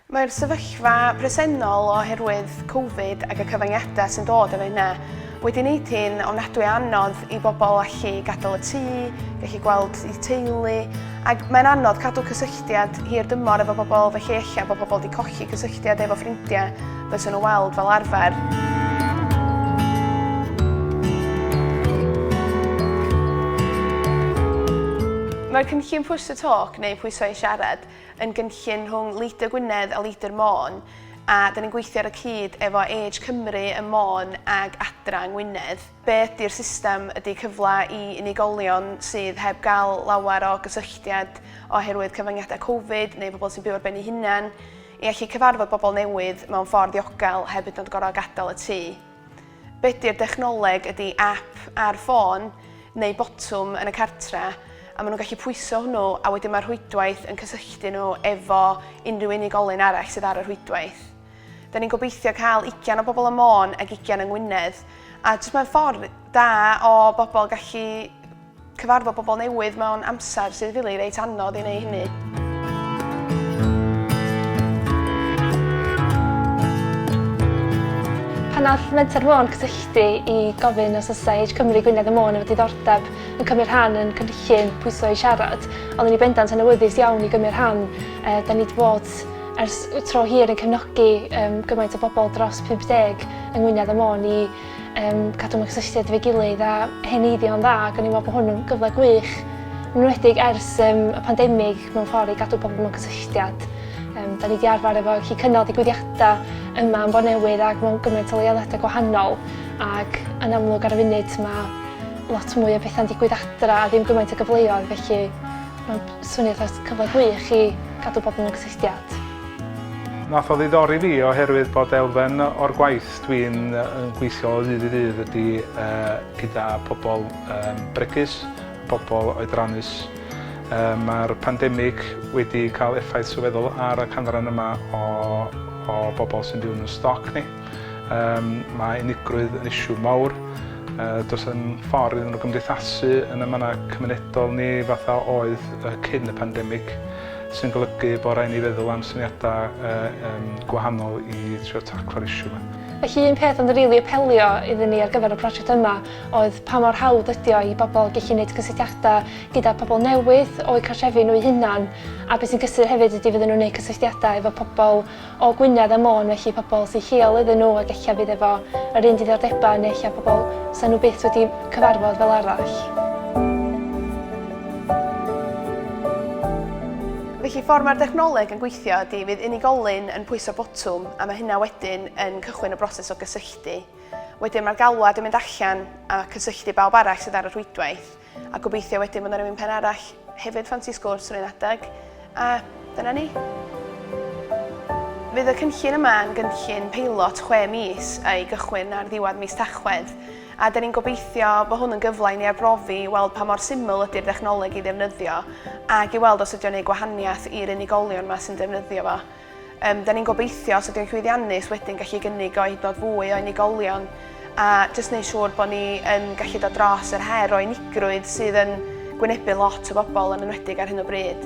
Mae'r sefyllfa presennol oherwydd Covid ac y cyfyngiadau sy'n dod efo hynna wedi wneud hi'n ofnadwy o anodd i bobl allu gadael y tŷ, gallu gweld eu teulu, ac mae'n anodd cadw cysylltiad hir dymor efo bobl felly ella bod pobl wedi colli cysylltiad efo ffrindiau fyswn nhw weld fel arfer. Mae'r cynllun Push to Talk, neu Pwyso i Siarad, yn gynllun rhwng Leader Gwynedd a Leader Môn a da ni'n gweithio ar y cyd efo Age Cymru ym Môn ag Adra yng Ngwynedd. Be ydy'r system ydy cyfle i unigolion sydd heb gael lawer o gysylltiad oherwydd cyfyngiadau Covid neu pobl sy'n byw ar ben ei hunain i allu cyfarfod bobl newydd mewn ffordd ddiogel heb hyd yn oed gorfod gadael y tŷ. Be 'di'r dechnoleg ydi app ar ffôn neu botwm yn y cartre a maen nhw'n gallu pwyso hwnnw a wedyn mae'r rhwydwaith yn cysylltu nhw efo unrhyw unigolyn arall sydd ar y rhwydwaith. Da ni'n gobeithio cael ugian o bobl ym Môn ac ugian yng Ngwynedd a jyst mae'n ffordd da o bobl gallu Cyfarfod pobl newydd mewn amser sydd fili reit anodd i wneud hynny. Pan nath Menter Môn cysylltu i gofyn os oes Age Cymru Gwynedd y Môn efo diddordeb yn cymryd rhan yn cynllun Pwyso i Siarad, ond yn ei bendant yn awyddus iawn i gymryd rhan. E, da ni wedi bod ers tro hir yn cefnogi um, gymaint o bobl dros 50 yng Ngwynedd y Môn i um, cadw mewn cysylltiad efo'i gilydd a heneiddio'n dda ac o'n i'n meddwl bod hwn yn gyfle gwych yn wedig ers um, y pandemig mewn ffordd i gadw pobl mewn cysylltiad. Um, da ni wedi arfer efo chi cynnal digwyddiadau yma yn Bonewydd ac mewn gymaint o leoliadau gwahanol ac yn amlwg ar y funud mae lot mwy o bethau'n digwydd adra a ddim gymaint o gyfleoedd felly mae'n swnio dros cyfle gwych i gadw pobl mewn cysylltiad. Nath o ddiddori fi oherwydd bod elfen o'r gwaith Dwi'n gweithio o ddydd i ddydd ydi gyda pobl bregus, pobl oedrannus. Mae'r pandemig wedi cael effaith sylweddol ar y canran yma o bobl sy'n byw yn ein stoc ni. Mae unigrwydd yn issue mawr. Does dim ffordd iddyn nhw gymdeithasu yn y mannau cymunedol ni fatha oedd cyn y pandemig. sy'n golygu bod rhaid ni feddwl am syniadau yym gwahanol i trio taclo'r issue 'ma. Felly un peth oedd yn rili apelio iddyn ni ar gyfer y prosiect yma oedd pa mor hawdd ydi o i bobl gellu neud cysylltiadau gyda pobl newydd o'u cartrefi nhw eu hunan a be' sy'n gysur hefyd ydi fydden nhw'n neud cysylltiadau efo pobl o Gwynedd a Môn felly pobl sy lleol iddyn nhw ac ella fydd efo yr un diddordebau neu ella pobl 'sa nhw byth wedi cyfarfod fel arall. Felly ffordd mae'r dechnoleg yn gweithio ydy fydd unigolyn yn pwyso botwm a mae hynna wedyn yn cychwyn y broses o gysylltu. Wedyn mae'r galwad yn mynd allan a cysylltu bawb arall sydd ar y rhwydwaith. A gobeithio wedyn bod 'na rywun pen arall hefyd ffansi sgwrs ar un adeg, a dyna ni. Fydd y cynllun yma yn gynllun peilot chwe mis a'i gychwyn ar ddiwedd mis Tachwedd, a 'da ni'n gobeithio bod hwn yn gyfle i ni arbrofi i weld pa mor syml ydy'r ddechnoleg i ddefnyddio ac i weld os ydy o'n gwneud gwahaniaeth i'r unigolion 'ma sy'n defnyddio fo. Yym, da ni'n gobeithio os ydyw'n llwyddiannus wedyn gallu gynnig o i dod fwy o unigolion a jyst neud siŵr bod ni yn gallu dod dros yr her o unigrwydd sydd yn gwynebu lot o bobl yn enwedig ar hyn o bryd.